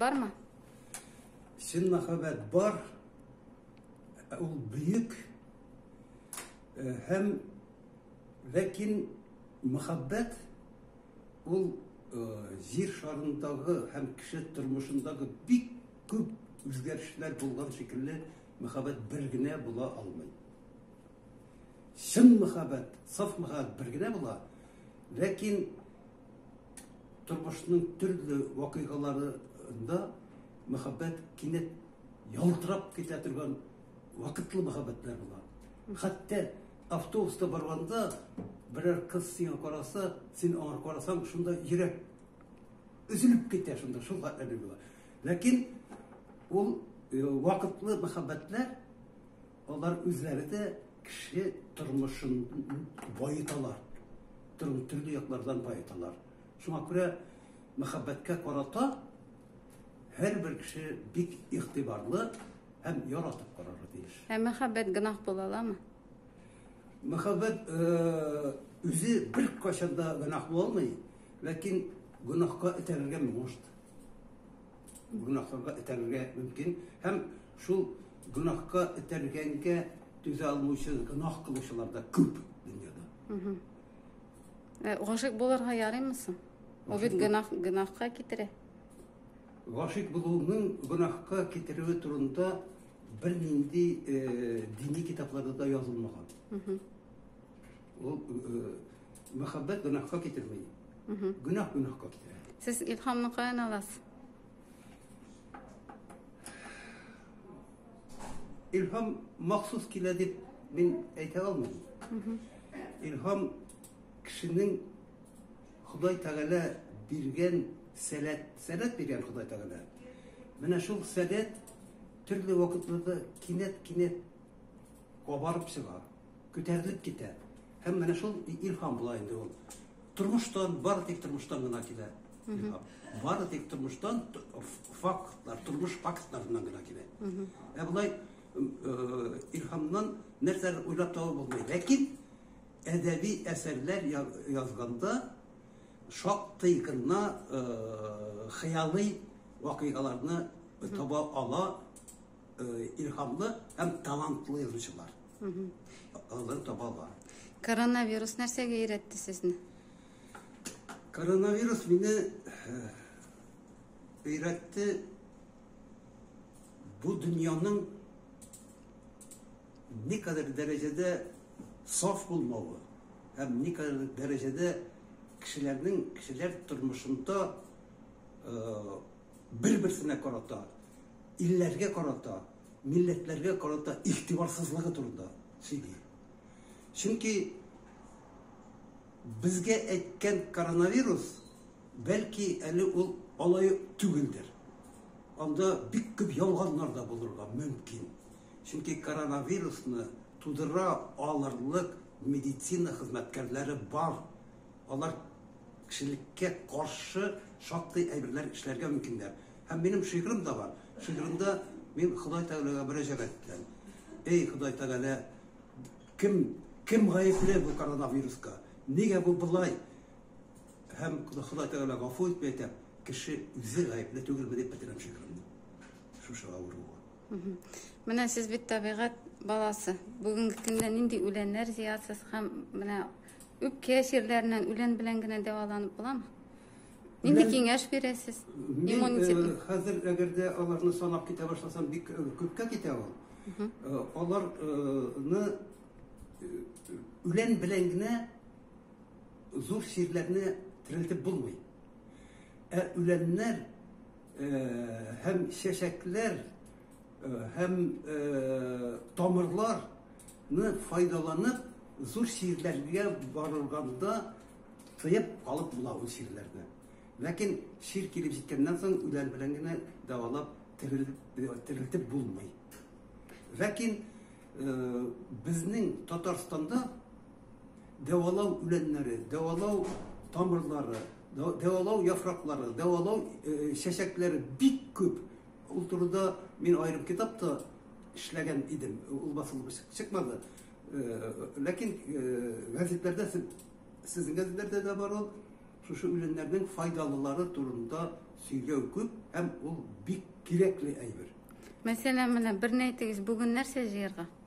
Бармы? Чын мәхәббәт бар. Ул бөек. Э, һәм ләкин мәхәббәт ул э, җир шарындагы һәм кеше тормышындагы бик күп үзгәрешләр булган шикелле мәхәббәт бер генә була алмый. Чын мәхәббәт, саф мәхәббәт бер генә була. Ләкин Тормышның төрле вакыйгаларында мәхәббәт кинәт ялтырап китә торган вакытлы мәхәббәтләр була. Хәтта автобуста барганда берәр кыз сиңа караса, син аңа карасаң, шунда йөрәк өзелеп китә шунда, шул хәтле була. Ләкин ул э, вакытлы мәхәббәтләр Алар үзләре дә кеше тормышын баеталар. Тормыш төрле яклардан баеталар. Шуңа күрә мәхәббәткә карата һәрбер кеше бик игътибарлы һәм яратып карарга тиеш. Ә мәхәббәт гөнаһ була аламы? Мәхәббәт э, үзе бер кашанда гөнаһ булмый, ләкин гөнаһка этәрергә мөмкин. гөнаһларга этәрергә мөмкин һәм шул гөнаһка этәргәнгә түзә алмыйча гөнаһ кылучылар да күп дөньяда гашык булырга ярыймы соң ул бит гөнаһ гөнаһка китерә гашык булуның гөнаһка китерүе турында бернинди дини китапларда да язылмаган Ул мәхәббәт гөнаһка китерми. Гөнаһ гөнаһка китерә. Сез илһамны каян аласыз? Илһам махсус килә дип мин әйтә алмыйм. Илһам кешенең Ходай Тәгалә биргән сәләт, сәләт биргән Ходай Тәгалә. Менә шул сәләт төрле вакытларда кинәт-кинәт кабарып чыга. Күтәрелеп китә. Һәм менә шул илһам була инде ул. Тормыштан, бары тик тормыштан гына килә. Бары тик тормыштан фактлар, тормыш фактларыннан гына килә. Ә болай э, илһамнан нәрсәләр уйлап табу булмый. Ләкин әдәби әсәрләр язганда шактый гына э, хыялый вакыйгаларны таба ала Илһамлы һәм талантлы язучылар. Алар табалар. Коронавирус нәрсәгә өйрәтте сезне? Коронавирус мине өйрәтте бу дөньяның никадәр дәрәҗәдә саф булмавы һәм никадәр дәрәҗәдә кешеләрнең кешеләр тормышында бер-берсенә карата, илләргә карата, милләтләргә карата игътибарсызлыгы турында сөйли. Чөнки безгә әйткән коронавирус бәлки әле ул алай түгелдер. Анда бик күп ялганнар да булырга мөмкин. Чөнки коронавирусны тудыра алырлык медицина хезмәткәрләре бар. Алар Кешелеккә каршы шактый әйберләр эшләргә мөмкиннәр. Һәм минем шигырем дә бар. Шигыремдә мин Ходай Тәгаләгә мөрәҗәгать итәм. Эй, Ходай Тәгалә, кем, кем гаепле бу коронавируска? Нигә бу болай? Һәм Ходай Тәгалә гафу ит, дип әйтәм. Кеше үзе гаепле түгелме, дип бетерәм шигыремне. Шушы авыруга. Менә сез бит табигать баласы. Бүгенге көндә нинди үләннәр җыясыз һәм менә үпкә чирләреннән үлән белән генә дәваланып буламы? Нинди киңәш бирәсез? Иммунитет. Э, хәзер әгәр дә аларны санап китә башласам, бик э, күпкә китә ул. Э, аларны үлән белән генә зур чирләрне терелтеп булмый. Ә үләннәр һәм чәчәкләр һәм тамырларны файдаланып зур чирләргә барылганда тыеп калып була ул чирләрне ләкин чир килеп җиткәннән соң үлән белән генә дәвалап терелтеп булмый ләкин безнең татарстанда дәвалау үләннәре, дәвалау тамырлары, дәвалау яфраклары, дәвалау э, чәчәкләре бик күп. Ул турыда мин аерым китапта эшләгән идем. Ул басылып чыкмады. Э, ләкин э, газетләрдә сезнең газетләрдә дә бар ул шушы үләннәрнең файдалылары турында сөйләү күп һәм ул бик кирәкле әйбер. Мәсәлән, менә берне әйтегез, бүген нәрсә җыярга?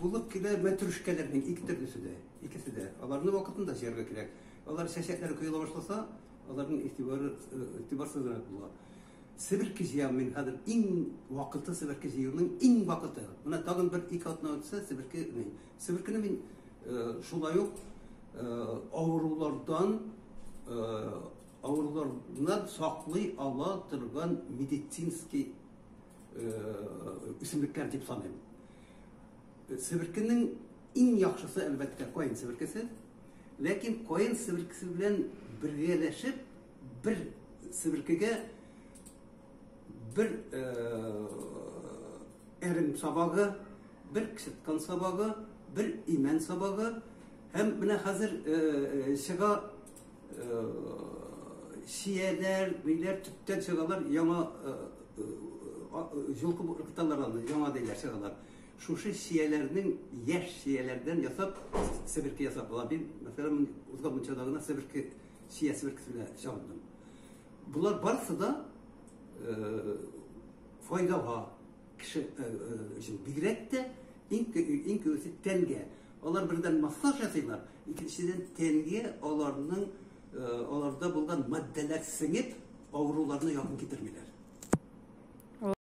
Булып килә мәтрүшкәләрнең ике төрлесе дә, икесе дә. Аларны вакытында җыярга кирәк. Алар чәчәкләре коела башласа, аларның игътибары игътибарсызрак була. Себерке җыям мин хәзер. Иң вакыты себерке җыюның иң вакыты. Менә тагын бер ике атна үтсә, себерке мин. Себеркене мин шулай ук авырулардан авырулардан саклый ала торган медицинский үсемлекләр дип саныйм. Себеркенең иң яхшысы әлбәттә каен себеркесе. Ләкин каен себеркесе белән бергәләшеп бер себеркегә бер әрем сабагы, бер ксеткан сабагы, бер имән сабагы һәм менә хәзер чыга Сияләр, биләр төптән чыгалар, яңа җылкып кыталар аны, яңа диләр чыгалар. Шушы сияләрнең яшь сияләрдән ясап, себерке ясап була. Мин, мәсәлән, узган мунчада гына себерке сия себеркесе белән чабындым. Болар барысы да файдага кеше өчен бигрәк тә иң иң күбесе тәнгә Алар бердән массаж ясыйлар, икенчедән тәнгә аларның аларда булган матдәләр сеңеп, авыруларны якын китермиләр.